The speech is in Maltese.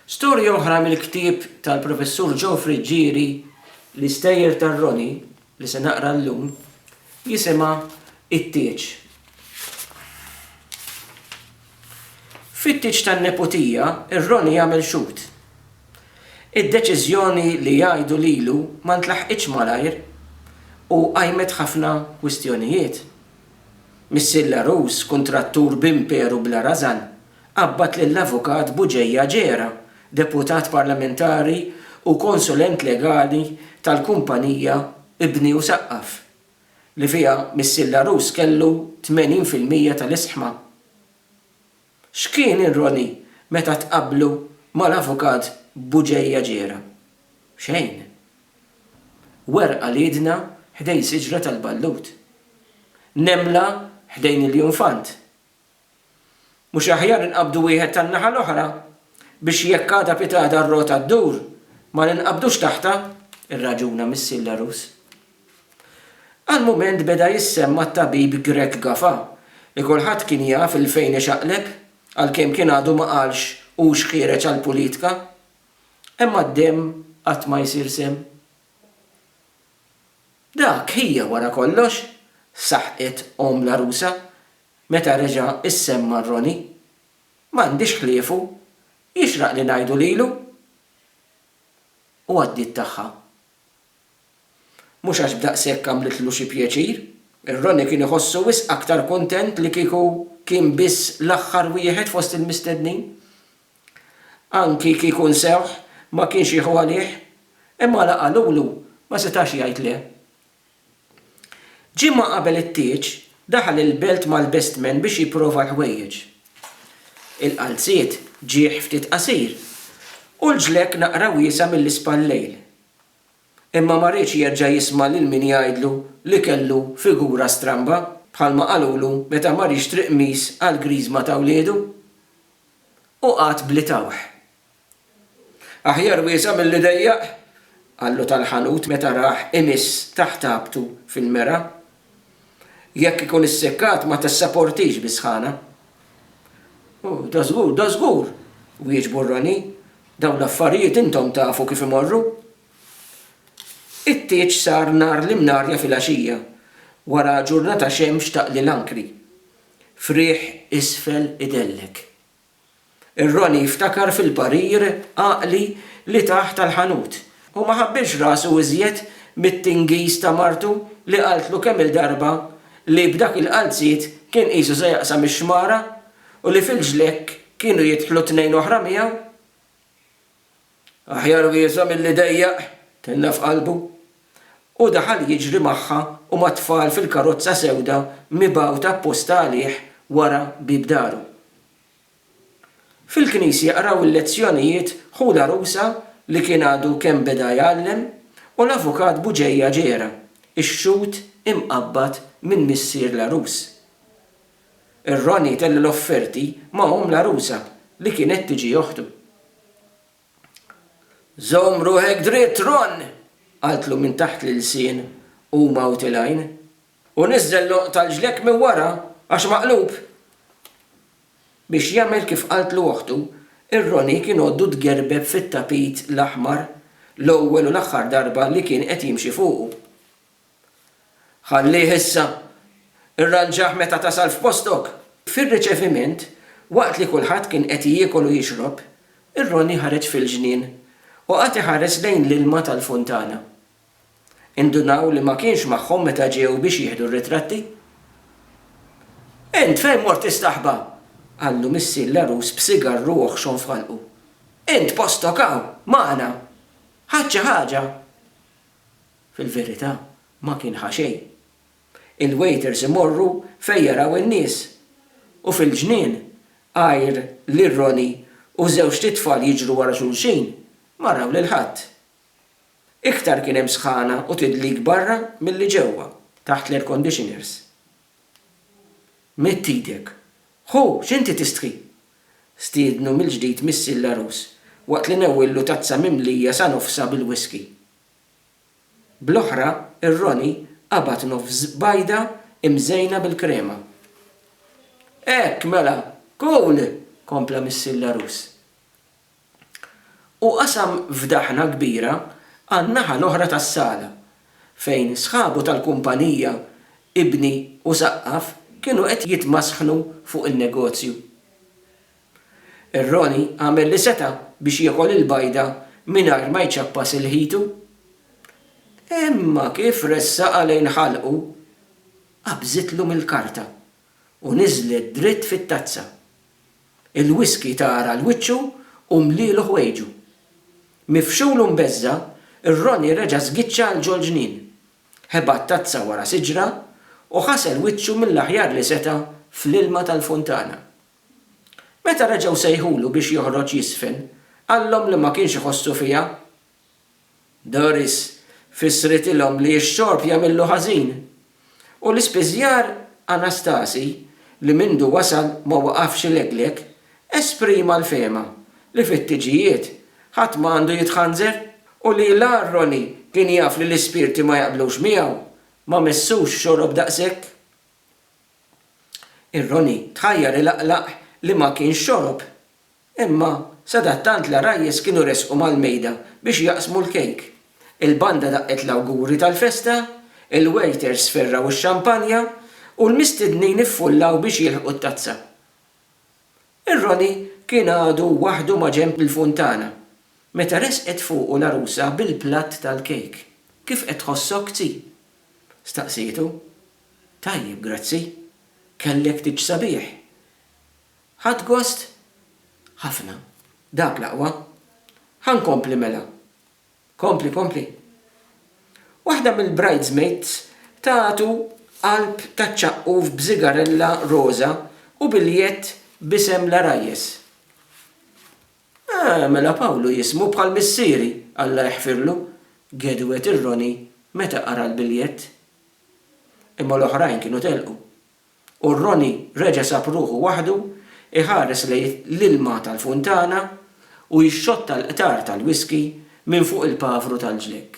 Storja oħra mill-ktieb tal-Professur Joe Friggieri, L-Istejjer tar-Roni, li se naqra llum, jisimha It-Tieġ. Fit-tieġ tan-neputija, ir-Roni għamel xhud. Id-deċiżjoni li jgħidu lilu ma ntlaħqitx malajr u qajmet ħafna kwistjonijiet. Missier l-għarus, kuntrattur b'imperu bla rażan, qabbad lill-Avukat Bugeja Gera, Deputat Parlamentari u Konsulent Legali tal-kumpanija Ibni u Saqqaf, li fiha missier l-għarus kellu 80 fil-mija tal-isħma. X'kien ir-Roni meta tqabblu mal-Avukat Bugeja Gera? Xejn. Werq għal idna ħdejn siġra tal-ballut. Nemla ħdejn il-junfant. Mhux aħjar inqabdu wieħed tan-naħa l-oħra biex jekk għada pitgħada r-rota ddur ma ninqabdux taħtha? irraġuna missier l-għarus. Għal mument beda jissemma t-tabib Grech Gafa li kulħadd kien jaf 'il fejn ixaqleb, għalkemm kien għadu ma qalx hux ħiereġ għall-pulitka. Imma d-demm qatt ma jsir semm. Dak hija wara kollox, saħqet omm l-għarusa, Meta reġa' issemma Ronnie, M'għandix ħliefu, jixraq li ngħidu lilu! U għaddiet tagħha. Mhux għax b'daqshekk għamlitlu xi pjaċir, ir-Ronnie kien iħossu wisq aktar kuntent li kieku kien biss l-aħħar wieħed fost il-mistednin. Anki kieku nsewh, ma kienx jieħu għalih, imma la qalulu, ma setax jgħid le. Ġimgħa qabel it-tieġ, daħal il-belt mal-bestmen biex jipprova l-ħwejjeġ. Il-qalziet ġiegħ ftit qasir u l-ġlekk naqra wiesa' mill-ispallejl. Imma ma riedx jerġa' jisma' lil min jgħidlu li kellu figura stramba, bħalma qalulu meta mar jixtri qmis għall-griżma ta' wliedu. U qagħad bli tawħ. Aħjar wieża' milli dejjaq, qallu tal-ħanut meta rah imiss taħt ħabtu fil-mera. Jekk ikun issekkat ma tissaportix bis-sħana. Oh, da żgur, da żgur! wieġbu r-ranji. Dawn l-affarijiet intom tafu kif imorru. It-tieġ sar nhar l-imnarja filgħaxija, wara ġurnata xemx taqli l-ankri. Friegħ isfel idellek. Ir-Roni jiftakar fil-parir għaqli li tah tal-ħanut u ma ħabbilx rasu iżjed mit-tingiż ta' martu li qaltlu kemm-il darba li b'dak il-qalziet kien qisu se jaqsam ix-xmara u li fil-ġlekk kienu jidħlu tnejn oħra miegħu. Aħjar wieża milli dejjaq, tenna f'qalbu. U daħal jiġri magħha u mat-tfal fil-karozza sewda mibgħuta apposta għalih wara bieb daru. Fil-knisja qraw il-lezzjonijiet ħu l-għarusa li kien għadu kemm beda jgħallem u l-avukat Buġeja ġera, ix-xhud imqabbad minn missier l-għarus. Ir-ragħni kellu l-offerti ma' omm l-għarusa li kienet tiġi oħtu. Żomm ruħek dritt, Ron! qaltlu minn taħt l-ilsien u mgħut il-għajn. U niżżel l-għonq tal-ġlekk minn wara għax maqlub! Biex jagħmel kif qaltlu oħtu, ir-ragħni kien għoddu tgerbeb fit-tapit l-aħmar l-ewwel u l-aħħar darba li kien qed jimxi fuqu. Ħallih issa. Irranġah meta tasal f'postok. Fir-riċeviment, waqt li kulħadd kien qed jiekol u jixrob, ir-Roni ħareġ fil-ġnien u qagħad iħares lejn l-ilma tal-funtana. Indunaw li ma kienx magħhom meta ġew biex jieħdu r-ritratti. Int fejn mort tistaħba? qallu missier l-għarus b'sigarru oħxon f'ħalqu. Int postok hawn, magħna. Ħadt xi ħaġa? Fil-verità, ma kien ħa xejn. Il-waiters imorru fejn jaraw in-nies. U fil-ġnien, għajr lil Ronnie u żewġt itfal jiġru wara xulxin, ma raw lil ħadd. Iktar kien hemm sħana u tidlik barra milli ġewwa, taħt l-airconditioners. Midd idek. Ħu, x'inti tistħi? Stiednu mill-ġdid missier l-għarus waqt li newwillu tazza mimlija sa nofsha bil-whiskey. Bl-oħra, ir-Roni qabad nofs bajda imżejna bil-krema. Hekk, mela! Cool! kompla missier l-għarus. Hu qasam fdaħna kbira għan-naħa l-oħra tas-sala, fejn sħabu tal-kumpanija Ibni u Saqqaf kienu qed jitmasħnu fuq in-negozju. Ir-Roni għamel li seta' biex jiekol il-bajda mingħajr ma jċappas ilħitu. Imma kif ressaqha lejn ħalqu, qabżitlu mill-karta u niżlet dritt fit-tazza. Il-whiskey tagħra l-wiċċu u mlielu ħwejġu. Mifxul u mbeżża', ir-Ronnie reġa' żgiċċa għal ġol-ġnien. Ħebat tazza wara siġra u ħasel wiċċu mill-aħjar li seta' fl-ilma tal-funtana. Meta reġgħu sejħulu biex joħroġ jiżfen, qallhom li ma kienx iħossu fiha Doris fissritilhom li x-xorb jagħmillu ħażin, u l-ispiżjar Anastasi, li mindu wasal ma waqafx ilegleg, esprima l-fehma li fit-tiġijiet ħadd ma għandu jitħanżer, u li la Ronnie kien jaf li l-ispirti ma jaqblux miegħu, ma messux xorob daqshekk. Ir-Ronnie tħajjar ilaqlaq li ma kienx xorob Imma sadattant l-għarajjes kienu resqu mal-mejda biex jaqsmu l-kejk. Il-banda daqqet l-awguri tal-festa, il-wejters sferraw ix-xampanja, u l-mistednin iffullaw biex jilħqu t-tazza. Ir-Roni kien għadu waħdu maġenb il-funtana, meta resqet fuqu l-għarusa bil-platt tal-kejk. Kif qed tħossok, Zzi? staqsietu. Tajjeb, grazzi. Kellek tieġ sabiħ. Ħadt gost? Ħafna. Dak l-aqwa. Ħa nkompli mela. Kompli, kompli. Waħda mill-bridesmaids tatu qalb taċ-ċaqquf b'sigarella roża u biljett b'isem l-għarajjes. Ah, mela Pawlu jismu bħal missieri, Alla jeħfirlu, gedwet ir-Ronnie meta qara l-biljett. Imma l-oħrajn kienu telqu. U Ronnie reġa' sab ruħu waħdu jħares lejn l-ilma tal-funtana u jixxotta l-qtar tal-whisky minn fuq il-pavru tal-ġlekk.